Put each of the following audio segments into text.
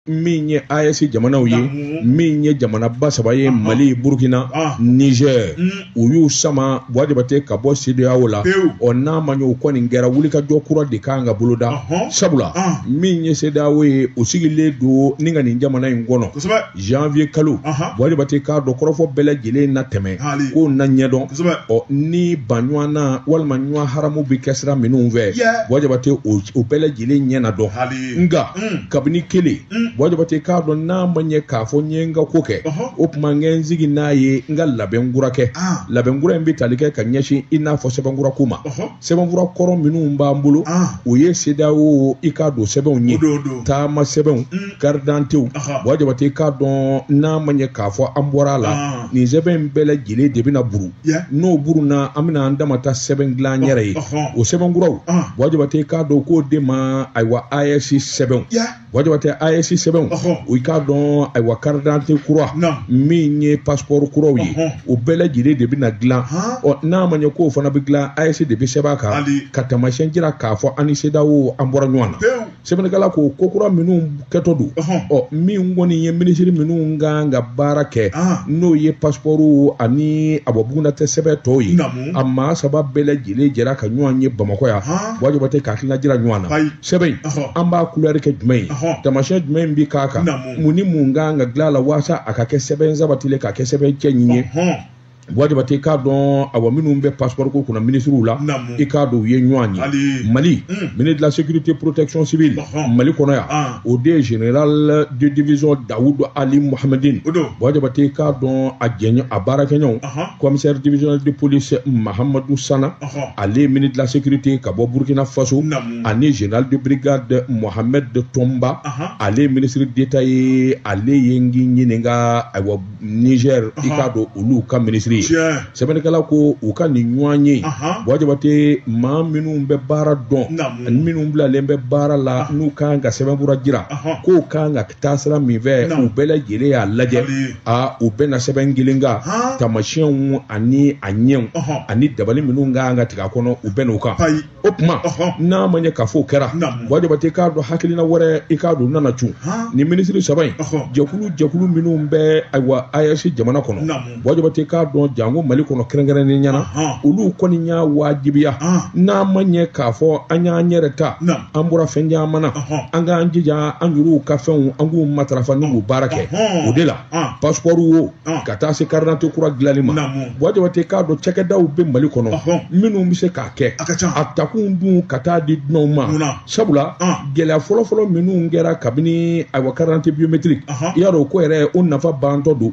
min ye AES jamanaw ye min ye jamanaba saba ye Mali Burkina Niger u y'u sama Buwa Jabate ka bɔ CEDEAO la ɔ n'a ma ɲɛ o kɔni kɛra wulikajɔ kura de kan ka boloda sabula min ye CEDEAO ye o sigilen don ni ka nin jamana in kɔnɔ janvier kalo Buwa Jabate k'a dɔn kɔrɔfɔ bɛɛ lajɛlen na tɛmɛ ko na ɲɛdɔn ɔ ni ban ɲuwan na walima ɲuwan haramu bɛ kɛ sira minnu fɛ Buwa Jabate o bɛɛ lajɛlen ɲɛ na dɔn. nka kabini kelen Buwa Jabate k'a dɔn n'a ma ɲɛ k'a fɔ n ye n ka ko kɛ o tuma n tɛ n sigi n'a ye n ka labɛn kura kɛ ah. labɛn kura in bɛ tali kɛ ka ɲɛsin i n'a fɔ sɛbɛn kura ko ma sɛbɛn kura kɔrɔ minnu b'an bolo ah. o ye CEDEAO i k'a dɔn sɛbɛnw ye taama sɛbɛnw karidantew mm. Buwa Jabate k'a dɔn n'a ma ɲɛ k'a fɔ an bɔra a la ah. nin sɛbɛn in bɛɛ lajɛlen de bɛna burun n'o burunna an bɛna an dama ta sɛbɛn dilan an yɛrɛ ye o sɛbɛn kuraw Buwa Jabate k'a dɔn k'o de ma ayiwa AES sɛbɛn Buwa Jabate AES sɛbɛnw o i k'a dɔn ayiwa karidante kura min ye pasipɔri kuraw ye o bɛɛ lajɛlen de bɛna dilan ɔ n'a ma ɲɛ k'o fana bɛ dilan AES de bɛ sɛbɛn a kan ka taamasiyɛn jira k'a fɔ an ni CEDEAO an bɔra ɲɔgɔn na sɛbɛnnikɛla ko ko kura minnu kɛtɔ don ɔ min kɔni ye minisiri minnu kan ka baara kɛ n'o ye pasipɔriw ani a bɔ bugunnatigɛ sɛbɛn tɔw ye a maa saba bɛɛ lajɛlen jɛra ka ɲɔgɔn ye bamakɔ yan Buwa Jabate ka hakilina jira ɲɔgɔn na sɛbɛn in an b'a kulɛri kɛ jumɛn ye taamasiyɛn jumɛn bɛ k'a kan mun ni mun kan ka dilan a la walasa a ka kɛ sɛbɛn sabatilen ka kɛ sɛbɛn cɛɲi ye Buwa Jabate i k'a dɔn awa minnu bɛ passeport ko kunna minisiriw la i k'a dɔn u ye ɲɔgɔn ye mali hmm. ministre de la sécurité protection civile mali kɔnɔ yan ah. o de ye général de division dawudu ali mohamedin Buwa Jabate i k'a dɔn a jɛɲɔ a baarakɛɲɔgɔn commissaire divisionnaire de police mahamadu sana ale ye ministre de la sécurité ka bɔ burkina faso ani général de brigade mohamed toumba ale ye ministre d'état ye ale ye n k'i ɲininka ayiwa Niger i k'a dɔn olu ka minisiri ye sɛbɛnnikɛla ko u ka nin ɲɔgɔnye Buwa Jabate maa minnu bɛ baara dɔn ani minnu bilalen bɛ baara la n'u ka kan ka sɛbɛnkura jira k'o ka kan ka taa sira min fɛ u bɛɛ lajɛlen y'a lajɛ aa u bɛnna sɛbɛn kelen kan taamasiyɛnw ani a ɲɛw ani dabali minnu ka kan ka tigɛ a kɔnɔ u bɛnna o kan o tuma n'a ma ɲɛ k'a fɔ o kɛra Buwa Jabate k'a dɔn hakilina wɛrɛ i k'a dɔn nana cun ni minisiri saba in jɛkulu jɛkulu minnu bɛ ayiwa AES jamana kɔnɔ Buwa Jabate k'a dɔn janko mali kɔnɔ kɛrɛnkɛrɛnnenya la olu kɔni y'a wajibiya n'a ma ɲɛ k'a fɔ an y'an yɛrɛ ta an bɔra fɛn caman na an k'an jija an yɛrɛw ka fɛnw an k'u matarafa n'u baara kɛ o de la ah. passeport wo ah. ka taa se carte d'identité kura dilanni ma Buwa Jabate k'a dɔn cakɛdaw bɛ mali kɔnɔ minnu bɛ se k'a kɛ a takun dun ka taa di dunanw ma sabula gɛlɛya fɔlɔfɔlɔ minnu kɛra kabini ayiwa carte d'identité biométrique i y'a dɔn o ko yɛrɛ o nafa bantɔ don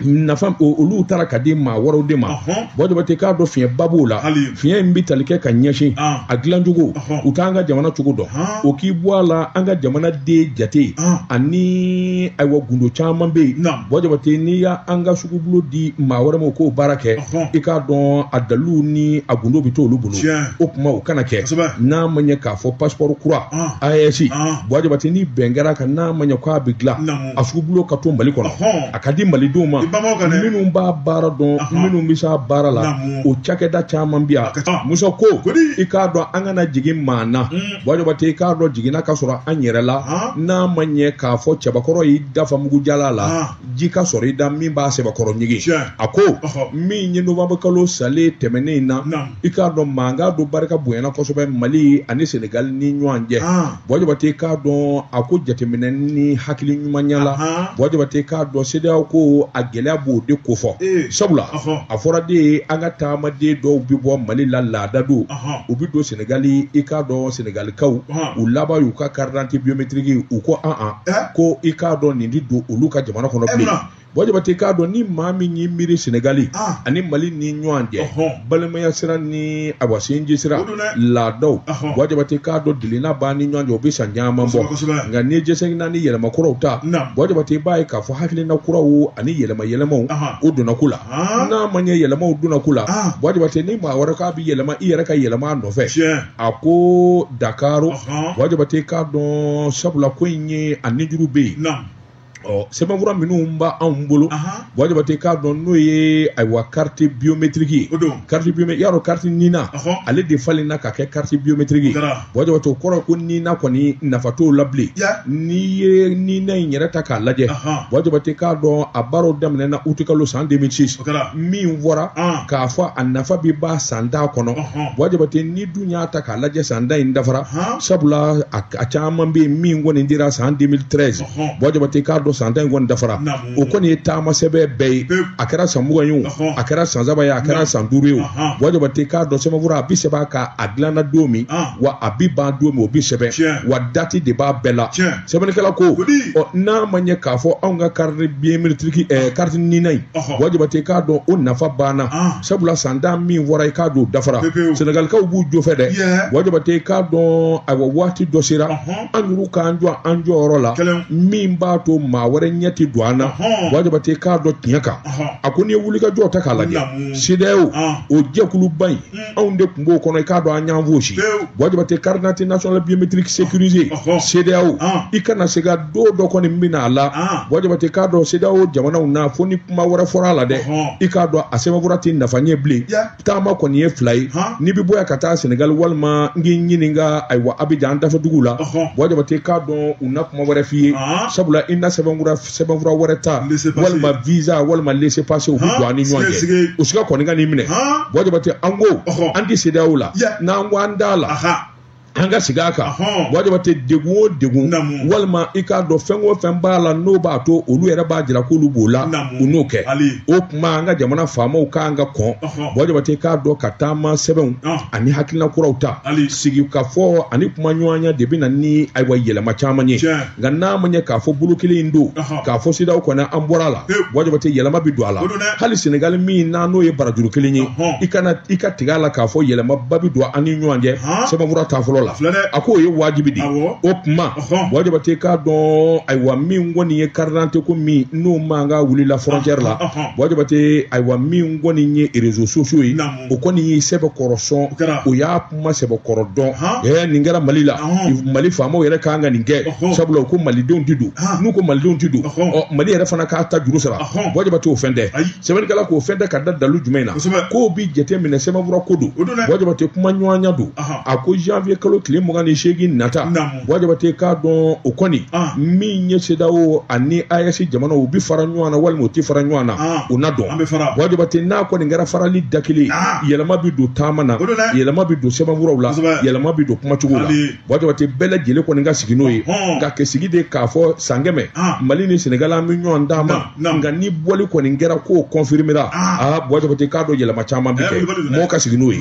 nafa olu taara k'a di maa wɛrɛw de ma Buwa Jabate k'a dɔn fiɲɛba b'o la fiɲɛ in bɛ tali kɛ ka ɲɛsin a dilancogo u t'an ka jamana cogo dɔn o k'i bɔ a la an ka jamana den jate ani ayiwa gundo caman bɛ yen Buwa Jabate n'i y'an ka sugubulo di maa wɛrɛ ma k'o baara kɛ i k'a dɔn a dalilu ni a gundo bɛ to olu bolo o kuma o kana kɛ n'a ma ɲɛ k'a fɔ passeport kura AES Buwa Jabate ni bɛn kɛra a kan n'a ma ɲɛ k'a bɛ dilan a sugubulo ka to Mali kɔnɔ, ɔhɔn, a ka di Malidenw ma, i bamaw ka dɛ, minnu b'a baara dɔn, ɔhɔn, minnu bɛ s'a baara la, naamu, o cakɛda caman bɛ yan, a ka ca, Musa ko, kodi, i k'a dɔn an kana jigi maa na, un, Buwa Jabate i k'a dɔn jiginna ka sɔrɔ an yɛrɛ la, han, n'a ma ɲɛ k'a fɔ cɛbakɔrɔ y'i da fa mugu jalan la, han, ji ka sɔrɔ i da min b'a sɛbɛkɔrɔ ɲigin, tiɲɛ, a ko, ɔhɔ, min ye novembre kalo salen tɛmɛnen in na, naamu. i k'a dɔn mankan dɔ barika bonyana kosɛbɛ mali ani senegali ni ɲɔgɔn cɛ ah. Buwa Jabate k'a dɔn a ko jateminɛ ni hakili ɲumanya la Buwa Jabate k'a dɔn CEDEAO ko a gɛlɛya b'o de kofɔ eh. sabula a fɔra de ye an ka taamaden dɔw bɛ bɔ mali la laada don u bɛ don senegali i k'a dɔn senegalikaw u laban y'u ka carte d'identité biométrique u ko an an eh? ko i k'a dɔn nin tɛ don olu ka jamana kɔnɔ eh, bilen Buwa Jabate k'a dɔn ni maa min y'i miiri sɛnɛgali ah. ani mali ni ɲɔgɔn cɛ balimaya sira ni awa sinji sira laadaw Buwa Jabate k'a dɔn delina b'an ni ɲɔgɔn cɛ o bɛ san caman bɔ nka n'i ye jɛsɛginna ni yɛlɛma kuraw ta Buwa Jabate b'a ye k'a fɔ hakilina kuraw ani yɛlɛma yɛlɛmaw o donna ko la ah. n'a ma ɲɛ yɛlɛmaw donna ko la ah. Buwa Jabate ni maa wɛrɛ k'a bɛ yɛlɛma i yɛrɛ ka yɛlɛma a nɔfɛ a ko Dakar Buwa Jabate k'a dɔn sabula ko in ye a nijuru bɛ yen ɔ sɛbɛnfura minnu b'anw bolo Buwa Jabate k'a dɔn n'o ye ayiwa kariti biyometiriki ye kariti biyometiriki y'a dɔn kariti nina ale de falenna ka kɛ kariti biyometiriki Buwa Jabate o kɔrɔ ko nina kɔni nafa t'o la bilen n'i ye nina in yɛrɛ ta k'a lajɛ Buwa Jabate k'a dɔn a baaraw daminɛna utikalo san 2006 min fɔra k'a fɔ a nafa bɛ ban san tan kɔnɔ Buwa Jabate n'i dun y'a ta k'a lajɛ san tan in dafara sabula a caman bɛ yen min kɔni dira san 2013 Buwa Jabate k'a dɔn san tan in kɔni dafara o kɔni ye taama sɛbɛn bɛɛ ye a kɛra san mugan ye o a kɛra san saba ye a kɛra san duuru ye o Buwa Jabate k'a dɔn sɛbɛnfura a bi sɛbɛn k'a dilanna don min wa a bi ban don min o bi sɛbɛn wa dati de b'a bɛɛ la sɛbɛnnikɛla ko ɔ n'a ma ɲɛ k'a fɔ anw ka kariti biyometiriki ɛɛ kariti nina in Buwa Jabate k'a dɔn o nafa banna sabula san tan min fɔra i k'a dɔn dafara sɛnɛgalikaw b'u jo fɛ dɛ Buwa Jabate k'a dɔn ayiwa waati dɔ sera an yɛrɛ k'an jɔ an jɔyɔrɔ la min b'a to maa wɛrɛ ɲɛ tɛ don an na buwa jabate k'a dɔn tiɲɛ kan a ko n'i ye wulikajɔ ta k'a lajɛ CEDEAO o jɛkuluba in mm. anw de tun b'o kɔnɔ i k'a dɔn an y'an fosi buwa jabate carte d'identité nationale biométrique sécurisée CEDEAO i kana se ka don dɔ kɔni min bɛna a la buwa jabate k'a dɔn CEDEAO jamanaw na fo ni kuma wɛrɛ fɔra a la dɛ i k'a dɔn a sɛbɛnfura tɛ nafa ɲɛ bilen taama kɔni ye fila ye n'i bɛ bɔ yan ka taa senegali walima n k'i ɲininka ayiwa abijan an dafɛdugu la buwa jabate k'a dɔn u na kuma wɛrɛ f'i ye sabula i na sɛbɛnfura wɛrɛ ta walima visa walima laissez passer o bɛ don an ni ɲɔgɔn cɛ o siga kɔni kan'i minɛ buwa jabate an ko an tɛ CEDEAO la n'an ko an t'a la an ka sigi a kan buwa jabate degun o degun walima i k'a dɔn fɛn o fɛn b'a la n'o b'a to olu yɛrɛ b'a jira k'olu b'o la u n'o kɛ o tuma an ka jamana faamaw kan ka kɔn buwa jabate k'a dɔn ka taama sɛbɛnw ani hakilina kuraw ta sigikafɔ ani kumaɲɔgɔnya de bɛ na ni ayiwa yɛlɛma caman ye nka n'a ma ɲɛ k'a fɔ bolo kelen in don k'a fɔ CEDEAO kɔni an bɔra a la buwa jabate yɛlɛma bɛ don a la hali senegali min na n'o ye barajuru kelen ye i kana i ka tigɛ a la k'a fɔ yɛlɛmaba bɛ don an ni ɲɔgɔn cɛ sɛbɛnfura ta fɔlɔ la a k'o ye wajibi de o tuma buwa jabate k'a dɔn ayiwa min kɔni ye karidante ko min n'o mankan wulila frontière la buwa jabate ayiwa min kɔni ye réseaux sociaux ye o kɔni ye sɛbɛkɔrɔ sɔn o y'a kuma sɛbɛkɔrɔ dɔn ɛɛ nin kɛra mali la mali faamaw yɛrɛ kan ka nin kɛ sabula u ko malidenw ti don n'u ko malidenw ti don ɔ mali yɛrɛ fana k'a ta juru sara buwa jabate o fɛn tɛ sɛbɛnnikɛla k'o fɛn tɛ ka da dalu jumɛn na k'o bi jate minɛ sɛbɛnfura ko don buwa jabate kumaɲɔgɔnya don a ko janvier kalo tile mugan ni seegin nata buwa jabate k'a dɔn o kɔni ah. min ye CEDEAO ani AES jamanaw u bɛ fara ɲɔgɔn na walima u tɛ fara ɲɔgɔn na ah. o na dɔn buwa jabate n'a kɔni kɛra farali da kelen ah. yɛlɛma bɛ don taama na yɛlɛma bɛ don sɛbɛnfuraw la yɛlɛma bɛ don kumacogo la buwa jabate bɛɛ lajɛlen kɔni ka sigi n'o ye ka kɛ sigi de k'a fɔ san kɛmɛ mali ni senegal an bɛ ɲɔgɔn d'a ma nka ni bɔli kɔni kɛra k'o kɔnfirimera aa buwa jabate k'a dɔn yɛlɛma caman bɛ kɛ mɔgɔw ka sigi n'o ye